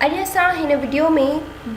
اڄ اسان هن وڊيو ۾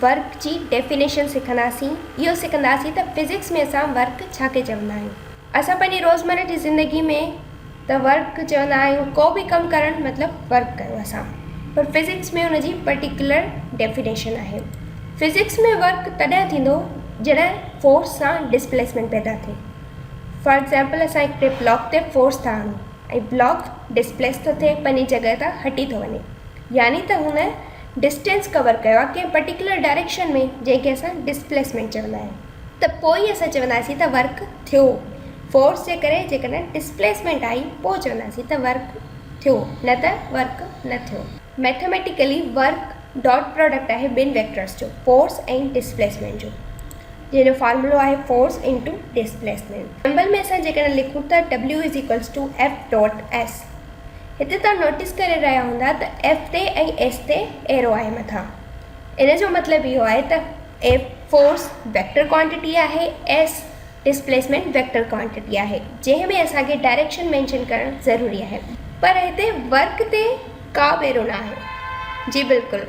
ورڪ جي ڊيفينيشن سکنداسين. اهو سکنداسين ته فزڪس ۾ اسان ورڪ ڇا کي چوندا آهيون. اسان پنهنجي روزمره جي زندگي ۾ ته ورڪ چوندا آهيون ڪو به ڪم ڪرڻ مطلب ورڪ ڪيو اسان پر فزڪس ۾ ان جي پرٽيڪيولر ڊيفينيشن آهي. فزڪس ۾ ورڪ تڏهن ٿيندو جڏهن فورس سان ڊسپليسمينٽ پيدا ٿئي. فار ايگزامپل اسان هڪڙي بلاڪ تي فورس ٿا آڻون. ۽ بلاڪ ڊسپليس ٿو ٿئي پنهنجي جڳهه تان هٽي ٿو وڃي يعني ته هن ڊسٽينس ڪور ڪيو آهي ڪنهن پرٽيڪولر ڊائريڪشن ۾ جنهن کي اسان ڊسپليسمينٽ چوندا آهيون ته پوء ئي اسان چونداسين ته ورڪ ٿيو فورس جي ڪري جيڪڏهن ڊسپليسمينٽ آئي پوء چونداسين ته ورڪ ٿيو نه ته ورڪ نه ٿيو. ميٿميٽيڪلي ورڪ ڊاٽ پراڊڪٽ آهي ٻن ويڪٽرس جو فورس ۽ ڊسپليسمينٽ جو. جنهن جو فارمولو آهي فورس انٽو ڊسپليسمينٽ. سمبل ۾ اسان جيڪڏهن لکون ٿا W is equals to F dot S هتي توهان نوٽيس ڪري رهيا هوندا ته F تي ۽ S تي ايرو آهي مٿان ان جو مطلب اهو آهي ته F فورس ويڪٽر ڪوانٽٽي آهي S ڊسپليسمينٽ ويڪٽر ڪوانٽٽي آهي جنهن ۾ اسان کي ڊائريڪشن مينشن ڪرڻ ضروري آهي پر هتي ورڪ تي ڪا به ايرو نه آهي جي بلڪل.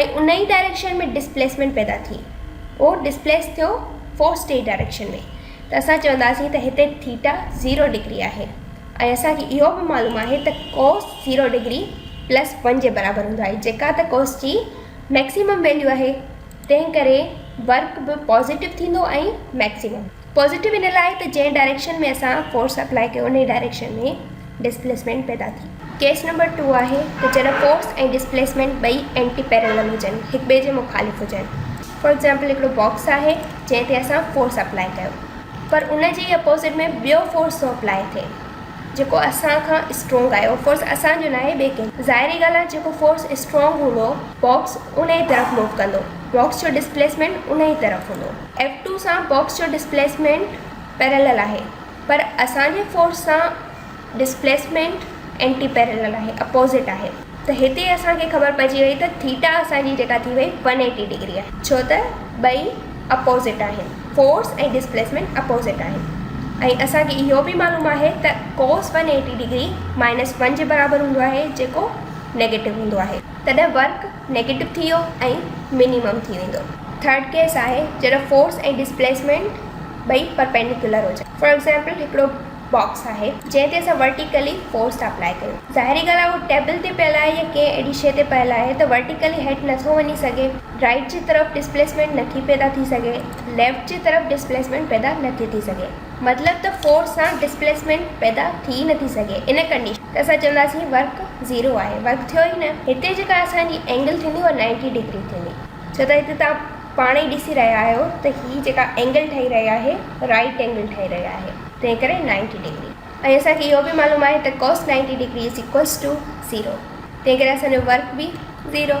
۽ انهي ڊائريڪشن ۾ ڊسپليسمينٽ پيدا ٿي اهو ڊسپليس ٿيو فورس ٽي ڊائريڪشن ۾ ته اسان چونداسين ته هتي ٿيٽا زيرو ڊگري آهي ۽ اسان کي اهو به معلوم آهي ته cos zero degree plus one جي برابر هوندو آهي جيڪا ته ڪوس جي ميڪسيمم ويليو آهي تنهن ڪري ورڪ به پازيٽو ٿيندو ۽ ميڪسيمم پازيٽو ان لاء ته جنهن ڊائريڪشن ۾ اسان فورس اپلائي ڪيو انهي ڊائريڪشن ۾ ڊسپليسمينٽ پيدا ٿي. ڪيس نمبر ٽو آهي ته جڏهن فورس ۽ ڊسپليسمينٽ ٻئي اينٽي پيرلل هجن، هڪٻئي جي مخالف هجن. فار ايگزامپل هڪڙو باڪس آهي جنهن تي اسان فورس اپلائي ڪيو پر ان جي ئي اپوزٽ ۾ ٻيو فورس ٿو اپلائي ٿئي جيڪو اسان کان اسٽرونگ آهي اهو فورس اسان جو ناهي ٻئي ڪنهن جو. ظاهري ڳالهه آهي جيڪو فورس اسٽرونگ هوندو باڪس انهي طرف موو ڪندو باڪس جو ڊسپليسمينٽ انهي طرف هوندو. ايف ٽو سان باڪس جو ڊسپليسمينٽ پيرلل آهي پر اسان جي فورس سان ڊسپليسمينٽ اينٽي پيرلل آهي اپوزٽ آهي ته هتي اسان کي خبر پئجي وئي ته ٿيٽا اسان جي جيڪا ٿي وئي ون ايٽي ڊگري آهي ڇو ته ٻئي اپوزٽ آهن فورس ۽ ڊسپليسمينٽ اپوزٽ آهن ۽ اسان کي اهو به معلوم آهي ته cos one eighty degree minus one جي برابر هوندو آهي جيڪو نيگيٽو هوندو آهي تڏهن ورڪ نيگيٽو ٿي ويو ۽ منيمم ٿي ويندو. ٿرڊ ڪيس آهي جڏهن فورس ۽ ڊسپليسمينٽ ٻئي پرپينڊيڪولر هجن. فار ايگزامپل هڪڙو باڪس آهي جنهن تي اسان ورٽيڪلي فورس ٿا اپلائي ڪيون. ظاهري ڳالهه آهي اهو ٽيبل تي پيل آهي يا ڪنهن اهڙي شيء تي پيل آهي ته ورٽيڪلي هيٺ نه ٿو وڃي سگهي. رائيٽ جي طرف ڊسپليسمينٽ نه ٿي پيدا ٿي سگهي. ليفٽ جي طرف ڊسپليسمينٽ پيدا نه ٿي ٿي سگهي. مطلب ته فورس سان ڊسپليسمينٽ پيدا ٿي نه ٿي سگهي ان ڪنڊيشن ۾. ته اسان چونداسين ورڪ زيرو آهي ورڪ ٿيو ئي نه هتي جيڪا اسان جي اينگل ٿيندي اها نائنٽي ڊگري ٿيندي ڇو ته هتي تان پاڻ ئي ڏسي رهيا آهيو ته هي جيڪا اينگل ٺهي رهي آهي رائٽ اينگل ٺهي رهي آهي تنهن ڪري نائنٽي ڊگري ۽ اسان کي اهو به معلوم آهي ته cos ninety degree is equals to zero تنهن ڪري اسان جو ورڪ به زيرو.